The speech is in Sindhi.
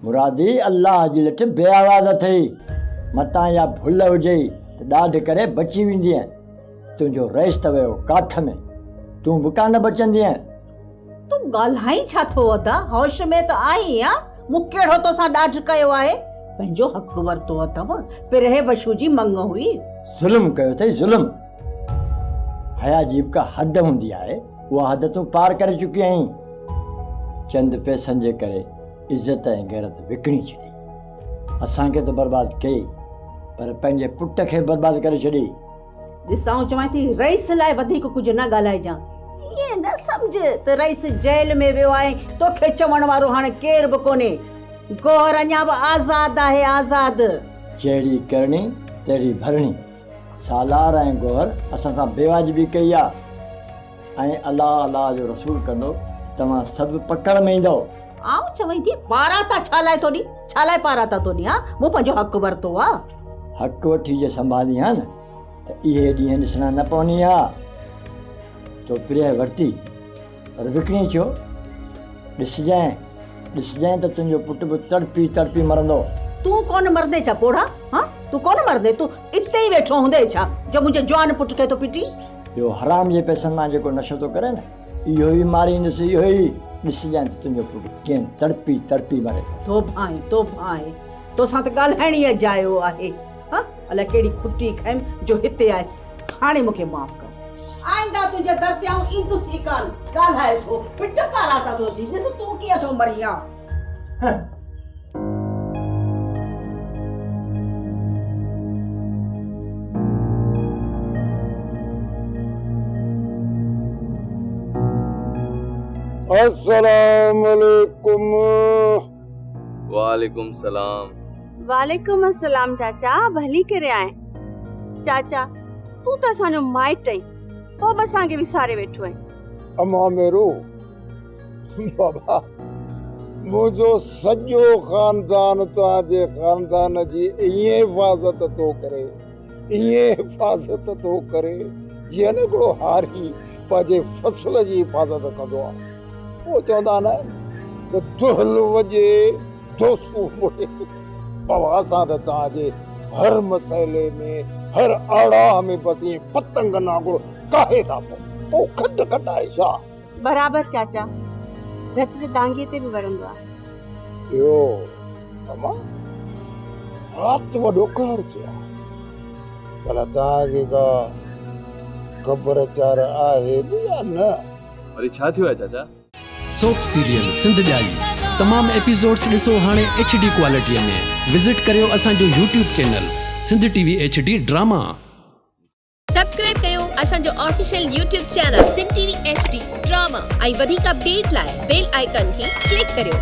مرادي الله جي لٺ بي آواز اٿئي، متان اها ڀل هجئي ته ڏاڍ ڪري بچي ويندينء، تنهنجو رئيس ته ويو ڪاٺ ۾، تون به ڪا نه بچندينء. تون ڳالهائين ڇا ٿو ادا، هوش ۾ ته آهين يا؟ مون ڪهڙو توسان ڏاڍ ڪيو آهي، پنهنجو حق ورتو اٿم، پرهه بشو جي مڱ هئي. ظلم ڪيو اٿئي ظلم، حيا جي به ڪا حد هوندي آهي. اها حد تون پار ڪري چڪي آهين، چند پئسن جي ڪري عزت ۽ غيرت وڪڻي ڇڏي، اسان کي ته برباد ڪيئي پر پنهنجي پٽ کي به برباد ڪري ڇڏي. ڏس آئون چوان ٿي رئيس لاء وڌيڪ ڪجهه نه ڳالهائجان، ائين نه سمجهه ته رئيس جيل ۾ ويو آهي، توکي چوڻ وارو هاڻ ڪير به ڪونهي، گوهر اڃا به آزاد آهي، آزاد. جهڙي ڪرڻي تهڙي ڀرڻي. سالار ۽ گوهر اسان سان بي واجبي ڪئي آ ۽ الله الله جو رسول ڪندو توهان سڀ پڪڙ ۾ ايندؤ. آئون چوين ٿي پاراتا ڇا لاء ٿو ڏي ڇا لاء پاراتا ٿو ڏي ها مون پنهنجو حق ورتو آ. حق وٺي جي سنڀالين ها نه ته اهي ڏينهن ڏسڻا نه پونين ها تو پريهه ورتي. پر وڪڻي چيو، ڏسجانء، ڏسجانء ته تنهنجو پٽ به تڙپي تڙپي مرندو. تون ڪونه مرندين ڇا پوڙها؟ هان، تون ڪونه مرندين؟ تون اتي ئي ويٺو هوندين ڇا، جو منهنجي جوان پٽ کي ٿو پٽين؟ اهو حرام جي پئسن مان جيڪو نشو ٿو ڪري نه، اهو ئي ماريندس، اهو ئي! ڏسجانء ته تنهنجو پٽ ڪيئن تڙپي تڙپي مري ٿو. توبه آهي، توبه آهي، توسان ته ڳالهائڻ ئي اجايو آهي. ها الاء ڪهڙي کٽي کيم جو هتي آيس هاڻي مون کي معاف ڪر. آئنده تنهنجي در تي آئون ايندس ئي ڪانه. ڳالهائي ٿو پٽ پاران ته روئجي ڏس تون ڪيئن ٿو مريان. السلام عليڪم. وعليڪم السلام. وعليڪم السلام چاچا ڀلي ڪري آئين چاچا تون ته اسان جو مائٽ آئين پوء به اسان کي وساري ويٺو آئين اما ميرو بابا منهنجو سڄو خاندان تنهنجي خاندان جي ائين حفاظت ٿو ڪري ائين حفاظت ٿو ڪري جيئن هڪڙو هاري پنهنجي فصل جي حفاظت ڪندو آهي پوء چوندا آهن ته دهل وڄي جو سور مڙهي پوان سان ته توهان جي هر مسئلي ۾ هر آڙاهه ۾ بس ائين پتنگن وانگر ڪاهي ٿا پئو. او کٽ کٽائي شاهه! برابر چاچا، رت ته دانگيء تي به وڙهندو آهي. ٻيو اما، رات وڏو قهر ٿئي ها. ڀلا توهان کي ڪا خبر چار آهي به يا نه؟ وري ڇا ٿيو آهي چاچا؟ سوپ سيريل سنڌ ڄائي تمام ايپيسوڊس ڏسو هاڻي ايڇ ڊي ڪوالٽي ۾ وزٽ ڪريو اسان جو YouTube channel Sindh T V H D drama. Subscribe ڪيو اسان جو official YouTube channel Sindh T V H D drama ۽ وڌيڪ اپڊيٽ لاء بيل آئيڪان کي ڪلڪ ڪريو.